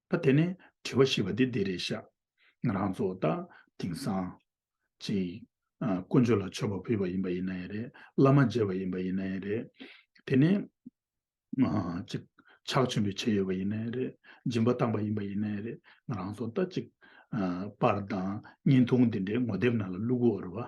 ད་དེ་ནས་དྲི་བ་ཞེས་པ་འདི་འདི་རེད་ཤག། ང་རང་ཚོ་ད་དེང་སང། ཅིག། དཀོན་མཆོག་ལ་མཆོད་པ་ཕུལ་བ་ཡིན་པ་ཡིན་ན་ཡང་རེད། བླ་མ་མཇལ་བ་ཡིན་པ་ཡིན་ན་ཡང་རེད། དེ་ནས། ཅིག། ཕྱག་ཆེན་པོའི་ཆས་ཡོད་པ་ཡིན་ན་ཡང་རེད། སྦྱིན་པ་བཏང་པ་ཡིན་པ་ཡིན་ན་ཡང་རེད། ང་རང་ཚོ་ད་ཅིག། པར་དང་བརྙན་ཐུང་འདི་འདྲའི་ངོ་དེབ་ནང་ལ་བླུག་དགོས་བར་བ།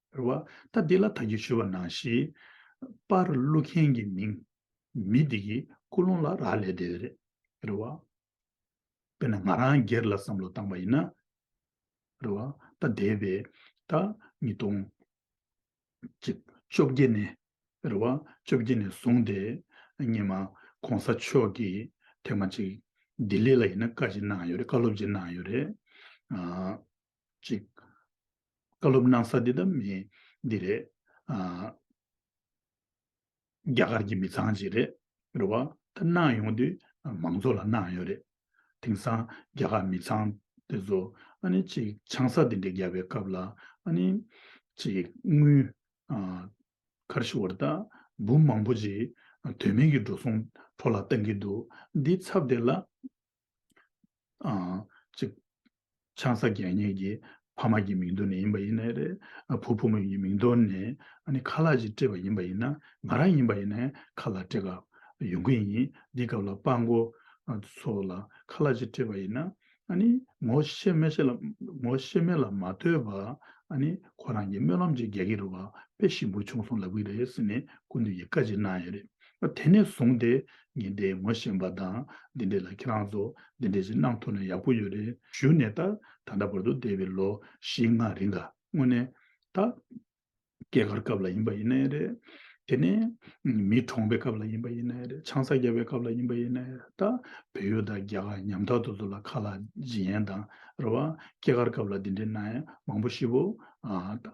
རེ་བ་ད་འདི་ལ་ད་ཀྱི་ཞུ་བ་གནང་ཞིག། པར་གླུ་མཁན་གྱི་མིང། མི་འདི་ཀྱི་ཀུ་ལུང་ལ་རག་ལས་དེ་རེད། རེ་བ། དཔེར་ན་ང་རང་སྒེར་ལ་བསམ་བློ་བཏང་བ་ཡིན་ན། རེ་བ་ད་འདས་པའི་ད་ཉིས་སྟོང། ཅི། བཅོ་བརྒྱད་ནས། རེ་བ་བཅོ་བརྒྱད་ནས་བཟུང་སྟེ། སྙེ་མ་གོང་ས་མཆོག་གིས་ཐེངས་མ་གཅིག། ལྡི་ལི་ལ་ཡིན་ན་བཀའ་ཅིག་གནང་ཡོད་རེད་བཀའ་སློབ་ཅིག་གནང་ཡོད་རེད། གཅིག། བཀའ་སློབ་གནང་ས་འདི་དང་མི་འདི་རེད། རྒྱ་གར་གྱི་མི་ཚང་ཞིག་རེད། རེད་བ། ད་གནང་ཡོང་དུས་མང་ཚོགས་ལ་གནང་ཡོད་རེད། དེང་སང་རྒྱ་གར་མི་ཚང་དེ་ཚོ་ཨ་ནི་གཅིག་ཆང་ས་དེ་འདྲས་རྒྱབ་པའི་སྐབས་ལ་ཨ་ནི་གཅིག་དངུལ། ཁར་ཤི་བར་ད་འབུམ་མང་པོ་ཅིག་དོན་མེད་ཀྱི་འགྲོ་སོང་འཕྲོ་བརླག་བཏང་གི་འདུག་འདི་ཚབ་དེ་ལ། གཅིག། ཆང་ས་རྒྱལ་གཉིས་ཀྱི་ཕ་མ་ཀྱི་མིང་དོར་ནས་ཡིན་པ་ཡིན་ནའི་རེད། བུ་ཕོ་མོ་ཡི་མིང་དོར་ནས་ཨ་ནི་ཁ་ལག་ཅིག་སྤྲད་པ་ཡིན་པ་ཡིན་ན་ང་རང་ཡིན་པ་ཡིན་ནའི་ཁ་ལག་སྤྲད་སྐབས་ཡོང་གི་ཡིན། འདི་སྐབས་ལ་དཔའ་མགོ་ཚོ་ལ་ཁ་ལག་ཅིག་སྤྲད་པ་ཡིན་ན་ཨ་ནི་ངོ་ཤེས་མེད་ཤེས་ལ་ངོ་ཤེས་མེད་ལ་མ་ལྟོས་པ་ཨ་ནི་ཁོ་རང་གི་སྨོན་ལམ་ཅིག་རྒྱག་གི་རུ་བ་དཔེ་ཞིམ་པོ་བྱུང་སོང་ལབ་གི་རེད་ཟེར་ནས་ཀུན་ཏུ་ཡི་བཀའ་ཅིག་གནང་ཡོད་རེད། དེ་ནས་བཟུང་སྟེ་ཉིན་དེའི་ངོ་ཤེས་པ་དང་འདི་འདྲས་ལ་ཁྱེད་རང་ཚོ་འདི་འདྲས་ཞིག་གནང་ཐུབ་ན་ཡག་པོ་ཡོད་རེད་ཞུ་ནས་ད་ད་ལྟ་བར་དུ་འདས་པའི་ལོ་བཞི་ལྔ་རིང་ག་དངོས་གནས་ད། སྐྱེས་སྐར་སྐབས་ལ་ཡིན་པ་ཡིན་ནའི་རེད། དེ་ནས། མི་གྲོངས་པའི་སྐབས་ལ་ཡིན་པ་ཡིན་ནའི་རེད་ཆང་ས་རྒྱབ་པའི་སྐབས་ལ་ཡིན་པ་ཡིན་ནའི་རེད་ད། བོད་ཡུལ་དང་རྒྱ་གར་ཉམ་ཐག་ཏུ་ཚོ་ལ་ཁ་ལག་བརྗེ་ཡན་དང་རེད་བ། སྐྱེས་སྐར་སྐབས་ལ་འདི་འདྲས་གནང་ཡན་མང་པོ་ཤི་བོ། ད།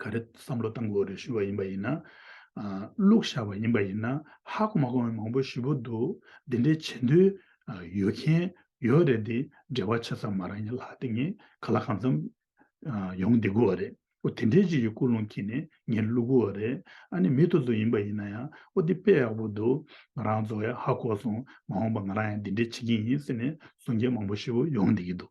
ག་རེ་བསམ་བློ་བཏང་དགོས་རེ་ཞུས་བ་ཡིན་པ་ཡིན་ན། བླུགས་བཞག་པ་ཡིན་པ་ཡིན་ན་ཧ་གོ་མ་གོ་བའི་མང་པོ་ཞི་བོ་འདུག་འདི་འདྲའི་བྱེད་འདོད་ཡོད་མཁན་ཡོད་རེད་འདི་འབྲེལ་བ་ཆེ་ས་མ་རང་ཡིན་ལ་དེ་ངས་ག་ལ་གང་འཚམས་ཡོང་བསྡད་དགོས་བ་རེད་ཨོ་དེ་འདྲའི་ཅིག་གི་ཀུན་སློང་གིས་ནས་ངས་བླུགས་དགོས་བ་རེད་ཨ་ནི་མི་ཐུ་ཚོ་ཡིན་པ་ཡིན་ན་ཡང་ཨོ་འདི་དཔེ་ཡག་པོ་འདུག་ང་རང་ཚོ་ཡང་ཧ་གོ་སོང་མ་འོངས་པ་ང་རང་ཡང་འདི་འདྲའི་བྱེད་ཀྱིན་ཡིན་ཟེར་ནས་གསུང་མཁན་མང་པོ་ཞི་བོ་ཡོང་བསྡད་ཀྱི་འདུག།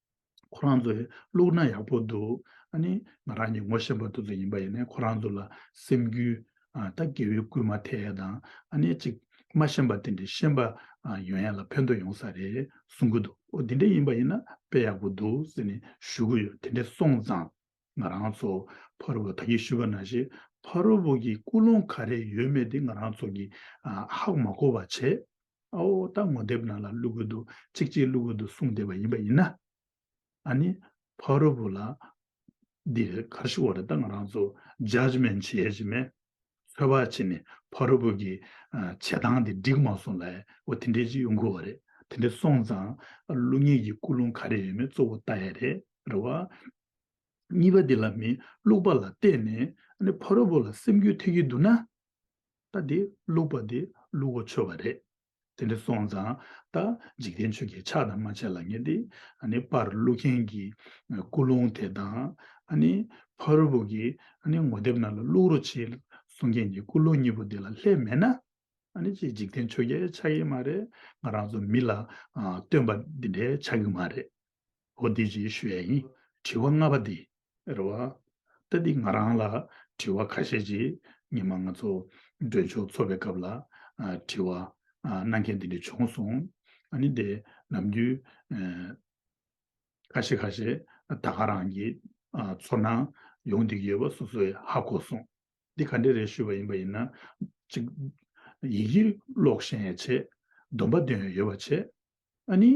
ཁོ་རང་ཚོ་བླུག་ན་ཡག་པོ་འདུག་ཨ་ནི་ང་རང་གཉིས་ངོ་ཤེས་པ་དུ་ཚོད་ཡིན་པ་ཡིན་ནའི་ཁོ་རང་ཚོ་ལ་སེམས་རྒྱུད་ཨ་ད་གེ་བའི་སྐུལ་མ་ཐེ་ཡས་དང་ཨ་ནི་ཅིག་མ་ཤེས་པ་དེ་འདྲའི་ཤེས་པ་ཡོན་ཡན་ལ་ཕན་ཐོག་ཡོང་ས་རེད་གསུང་གི་འདུག་ཨོ་དེ་འདྲ་ཡིན་པ་ཡིན་ན་དཔེ་ཡག་པོ་འདུག་ཟེར་ནས་ཞུ་གི་ཡོད་དེ་འདྲ་སོང་ཙང་ང་རང་ཚོ་ཕ་རོལ་བོ་ད་གིས་ཞུས་པ་ན་ཞིག་ཕ་རོལ་བོ་གིས་ཀུན་སློང་ག་རེ་ཡོད་མེད་དེ་ང་རང་ཚོ་གིས་ཧ་གོ་མ་གོ་བ་བྱས། ཨ་འོ་ད་ངོ་དེབ་ནང་ལ་བླུག་དགོས་འདུག་ཅིག་ཅིག་བླུག་དགོས་འདུག་གསུངས་བསྡད་པ་ཡིན་པ་ཡིན་ན། ཨཱ་ནི། ཕ་རོལ་པོ་ལ། འདི་རེད་གར་ཞིག་འོག་རེད་ད་ང་རང་ཚོ Judgement བྱེད་ཡ་གྱི་མེད། ཚོད་དཔག་བྱས་ནས་ཕ་རོལ་པོ་གི། བྱེད་སྟངས་དེ་འགྲིག་མ་སོང་ལ་ཨེ་འོ་དེ་འདྲའི་ཅིག་ཡོང་དགོས་བ་རེད། དེ་འདྲ་སོང་ཙང། བླུག་ངེས་ཀྱི་ཀུན་སློང་ག་རེ་ཡོད་མེད་གཙོ་བོ་བལྟ་ཡ་རེད་རེད་བ། གཉིས་པ་འདི་ལ་མི་བླུག་པ་ལ་བལྟས་ནས། ཨཱ་ནི་ཕ་རོལ་པོ་ལ་སེམས་འགུལ་ཐེབས་ཀྱི་འདུག་ན། ད་དེ་བླུགས་པ་དེ་བླུགས་གོ་ཆོད་པ་རེད། དེ་འདྲ་སོང་ཙང་ད་འཇིག་རྟེན་ཆོས་ཀྱི་ཕྱག་དང་མ་བྱས་ལ་ཉེ་སྟེ། ནི་པར་བླུགས་མཁན་གྱི་སྐུ་རླུང་དེ་དང། ནི་ཕ་རོལ་པོ་གི་ནི་ངོ་དེབ་ནང་ལ་བླུགས་རོ་ཅེས་གསུང་མཁན་གྱི་སྐུ་རླུང་གཉིས་པོ་དེ་ལ་ལྷད་མེད་ན། ནི་ཅི་འཇིག་རྟེན་ཆོས་ཀྱི་ཕྱག་ཡིན་མ་རེད། ང་རང་ཚོ་མི་ལ་སྟོན་པ་འདི་འདྲའི་ཕྱག་གི་མ་རེད། ཨོ་འདི་ཅིའི་ཤུ་ཡ་ཡིན། དྲི་བ་ལྔ་པ་འདི། རེ་བ། ད་འདི་ང་རང་ལ་དྲི་བ་ཁ་ཤས་ཅིག་ཉི་མ་ང་ཚོ་འདྲོན་མཆོག་འཚོ་བའི་སྐབས་ལ་དྲི་བ་གནང་མཁན་འདི་འདྲ་བྱུང་སོང། ཨ་ནི་འདི་ནམ་རྒྱུན་ཁ་ཤས་ཁ་ཤས་ད་ག་རང་གི་ཚོར་སྣང་ཡོང་འདུག་ཡོད་པ་སོ་སོས་ཧ་གོ་སོང། འདི་ག་འདྲ་རེད་ཞུས་པ་ཡིན་པ་ཡིན་ན་ཅིག། ཡིག་ཡིག་ཀློག་ཤེས་ཡས་ཆེ། སྡོམ་པ་འདོན་ཡས་ཡོད་པ་ཆེ། ཨ་ནི།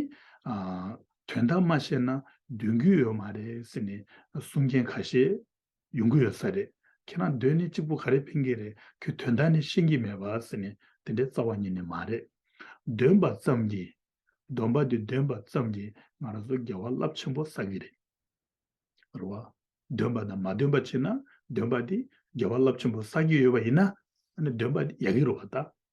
དོན་དག་མ་ཤེས་ན་འདོན་རྒྱུ་ཡོད་མ་རེད་ཟེར་ནས་གསུང་མཁན་ཁ་ཤས་ཡོང་གི་ཡོད་ས་རེད། ཁྱེད་རང་སྡོད་ནས་གཅིག་པུ་ག་རེ་ཕན་གྱི་རེད་ཁྱོས་དོན་དག་ནི་ཤེས་ཀྱི་མེད་པ་ཟེར་ནས་དེ་འདྲའི་རྩ་བ་ཉིད་ནས་མ་རེད། འདོན་པ་ཙམ་གྱིས། འདོན་པ་དེ་འདོན་པ་ཙམ་གྱིས་ང་རང་ཚོ་འགལ་བ་རླབས་ཆེན་པོ་བསགས་ཀྱི་རེད། རེད་བ། འདོན་པ་དང་མ་འདོན་པ་བྱས་ན་འདོན་པ་དེས་འགལ་བ་རླབས་ཆེན་པོ་བསགས་ཀྱི་ཡོད་པ་ཡིན་ན་ཨ་ནི་འདོན་པ་དེ་ཡག་གི་རེད་བ་ད།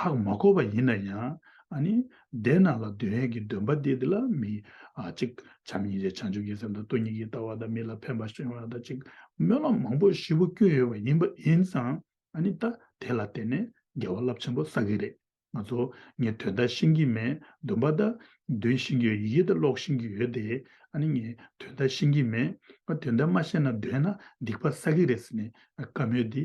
ཧག་མ་གོ་བ་ཡིན་ན་ཡང། ཨ་ནི། བདེན་སྣང་ལ་འདོད་ཡོན་གྱི་འདུན་པ་འདི་དེ་ལ་མི། གཅིག། བྱམས་སྙིང་རྗེ་བྱང་ཆུབ་ཀྱི་སེམས་དང་སྟོང་ཉིད་ཀྱི་ལྟ་བ་དང་མི་ལ་ཕན་པ་གཞན་དབང་དང་གཅིག། སྨོན་ལམ་མང་པོ་བཞི་བོ་སྐྱོན་ཡོད་པ་ཡིན་པ་ཡིན་ཙང། ཨ་ནི། ད་དེ་ལ་བརྟེན་ནས་དགེ་བ་རླབས་ཆེན་པོ་བསགས་ཀྱི་རེད། ང་ཚོ། ངས་དོན་དག་ཤེས་ཀྱི་མེད། འདུན་པ་དང། འདུན་ཤེས་ཀྱི་ཡོད་ཡིད་དང་ཀློག་ཤེས་ཀྱི་ཡོད་དེ། ཨ་ནི། ངས་དོན་དག་ཤེས་ཀྱི་མེད། ང་དོན་དག་མ་ཤེས་ན་འདོད་ན་སྡིག་པ་བསགས་ཀྱི་རེད་ཟེར་ནས། བཀའ་མོལ་འདི་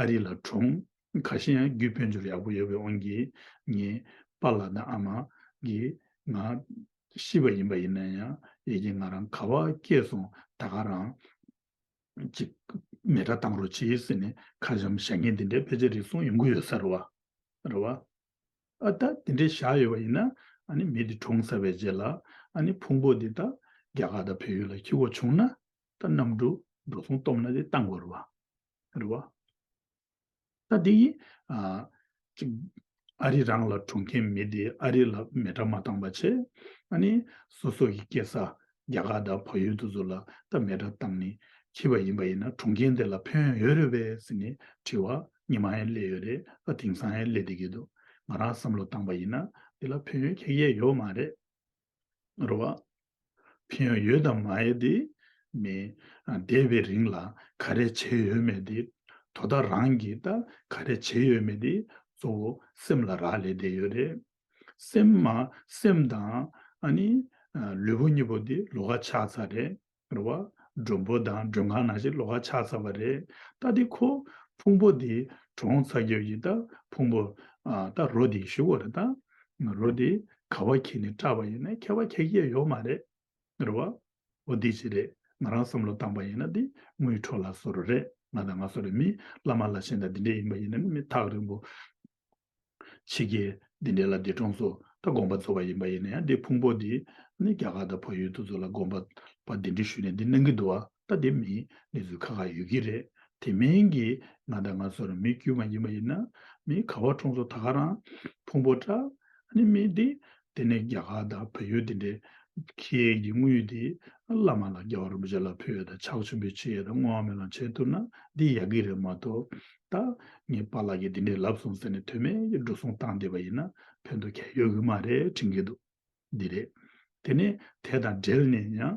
ཨ་རི་ལ་གྲོང་ཁ་ཤེས་ཡང་རྒྱུད་དཔོན་འབྱོར་ཡག་པོ་ཡོད་པའི་དབང་གིས་ངེད་པ་ལ་དང་ཨ་མ་གིས་ང་ཤི་བ་ཡིན་པ་ཡིན་ན་ཡང་ཡིད་ཀྱི་ང་རང་ག་བ་སྐྱེས་སོང་ད་ག་རང་གཅིག་མེ་ཏྲ་བཏང་རོགས་བྱིས་ཟེར་ནས་ཁ་འཇམ་ཞག་ངེད་འདི་འདྲའི་དཔེ་ཆ་རིགས་སོང་ཡོང་གི་ཡོད་ས་རེད་བ་རེད་བ། ཨ་ད་འདི་འདྲའི་བཞག་ཡོད་པ་ཡིན་ན་ཨ་ནི་མི་འདི་གྲོངས་ས་བའི་རྗེས་ལ་ཨ་ནི་ཕུང་པོ་འདི་ད་རྒྱ་གར་དང་བོད་ཡུལ་ལ་ཁྱི་བོ་བྱུང་ན་ད་གནམ་གྲུ་འགྲོ་སོང་སྟོབས་ན་དེ་བཏང་དགོས་རེད་བ། རེད་བ། ད་དེ་ཡིས་ཅིག་ཨ་རི་རང་ལ་གྲོངས་མཁན་མི་དེ་ཨ་རི་ལ་མེ་དྲ་མ་བཏང་པ་ཆེ་ཨ་ནི་སོ་སོ་ཡི་སྐྱེ་ས་རྒྱ་གར་དང་བག་ཡོད་དུ་ཟོ་ལ་ད་མེ་དྲ་བཏང་ནི་ཁྱི་བ་ཡིན་པ་ཡིན་ན་གྲོངས་མཁན་དེ་ལ་ཕན་ཡོད་རེད་བས་ཟེར་ནི་དྲི་བ་ཉི་མ་ཧན་སླེ་ཡོད་རེད་ཨ་དེང་སང་ཧན་སླེ་དེ་གི་འདུག་ང་རང་བསམ་བློ་བཏང་པ་ཡིན་ན་དེ་ལ་ཕན་ཡོད་ཁྱེད་ཡས་ཡོད་མ་རེད། རོ། ཕན་ཡོན་ཡོད་དམ་མ་ཡོད་དེ་མིན། འདས་པའི་རིང་ལ་ག་རེ་བྱས་ཡོད་མེད་དེ། དོ་བདག་རང་གིས་ད་ག་རེ་བྱས་ཡོད་མེད་དེ་གཙོ་བོ་སེམས་ལ་རག་ལས་བསྡད་ཡོད་རེད། སེམས། སེམས་དང། ལུས་པོ་གཉིས་པོ་དེ་ལོ་ག་ཆགས་ཚར་རེད། རེད་བ། མགྲོན་པོ་དང་མགྲོན་ཁང་ནང་བཞིན་ལོ་ཁ་ཆགས་ཚར་བ་རེད། ད་དེ་ཁོ། ཕུང་པོ་དེ། གྲོངས་ཚར་རྒྱབ་ཡིན་ད། ཕུང་པོ། ད་རོ་དེ་ཞུ་གོ་རེད་ད། རོ་དེ། ག་བ་ཁྱེད་ནས་སྐྲག་པ་ཡིན་ན་ཁྱེད་བ་ཁྱེད་སྐྱེ་ཡོག་མ་རེད། རེད་བ། འོ་དེ་ཅི་རེད། ང་རང་བསམ་བློ་བཏང་པ་ཡིན་ན་དེ། དངུལ་འཕྲོག་ལ་སོ་རོ་རེད། ང་དང་ང་སོ་རེད་མི། བླ་མ་བླ་ཆེན་དང་དེ་འདྲས་ཡིན་པ་ཡིན་ན་མི་ཐག་རིང་པོ། ཕྱིས་ཀྱི་འདི་འདྲའི་ལབ་ཀྱི་གྲོང་སོ་ད་དགོངས་པ་བརྫོ་བ་ཡིན་པ་ཡིན་ན་ཡང་འདི་ཕུང་པོ་འདི་ནི་རྒྱ་གར་དང་བོད་ཡུལ་དུ་བརྫོ་ལ་དགོངས་པ་པ་འདི་འདྲི་ཞུས་ནས་འདི་གནང་གི་འདུག་བ་ད་དེ་མིན་གནས་ཚུལ་ཁག་ཁག་ཡོད་ཀྱི་རེད་དེ་མིན་གྱི་ང་དང་ང་ཚོར་མི་དཀྱུས་མ་ཡིན་པ་ཡིན་ན་མི་ག་བ་གྲོང་སོ་ད་ག་རང་ཕུང་པོ་ཏྲ་ནི་མི་འདི་དེ་ནས་རྒྱ་གར་དང་བལ་ཡུལ་དེ་འདྲའི་ཁྱི་ཡིག་གི་དངོས་ཡུལ་དེས་བླ་མ་ལ་རྒྱལ་བ་རིན་པོ་ཆེ་ལ་ཕུལ་བའི་དང་ཕྱག་ཆེན་པོའི་ཆེ་ཡིག་དང་བསྔོ་བ་མེ་ལོང་བྱས་ཐུབ་ན་འདི་ཡག་གི་རེད་མ་གཏོགས། ད་ངས་པཱ་ལགས་ཀྱིས་འདི་འདྲའི་ལབ་སོང་ཟེར་ནས་དོན་མེད་ཀྱི་འགྲོ་སོང་བཏང་བསྡད་པ་ཡིན་ན་ཕན་ཐོགས་ག་ཡོད་ཀྱི་མ་རེད་དྲན་གྱི་འདུག་འདི་རེད། དེ་ནས་དེ་དང་འབྲེལ་ནས་ཡང།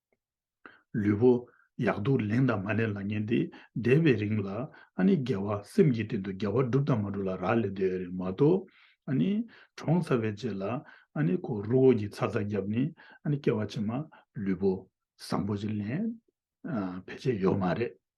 ལུས་པོ། ཡག་སྡུག་ལེན་དང་མ་ལེན་ལ་ཉན་ཏེ་བསྡད་པའི་རིང་ལ། ཨ་ནི་རྒྱལ་བ་སེམས་ཀྱི་དོན་དུ་རྒྱལ་བ་བསྒྲུབ་དང་མ་བསྒྲུབ་ལ་རག་ལས་བསྡད་རེད་མ་གཏོགས། ཨ་ནི། གྲོངས་ཚར་བའི་རྗེས་ལ། ཨ་ནི་ཁོ་རུ་འོ་གྱིས་ཚ་ཚ་བརྒྱབ་ནས་ཨ་ནི་སྐྱེ་བ་ཕྱི་མ་ལུས་པོ། བཟང་པོ་ཞིག་ལེན། ཕལ་ཆེར་ཡོད་མ་རེད།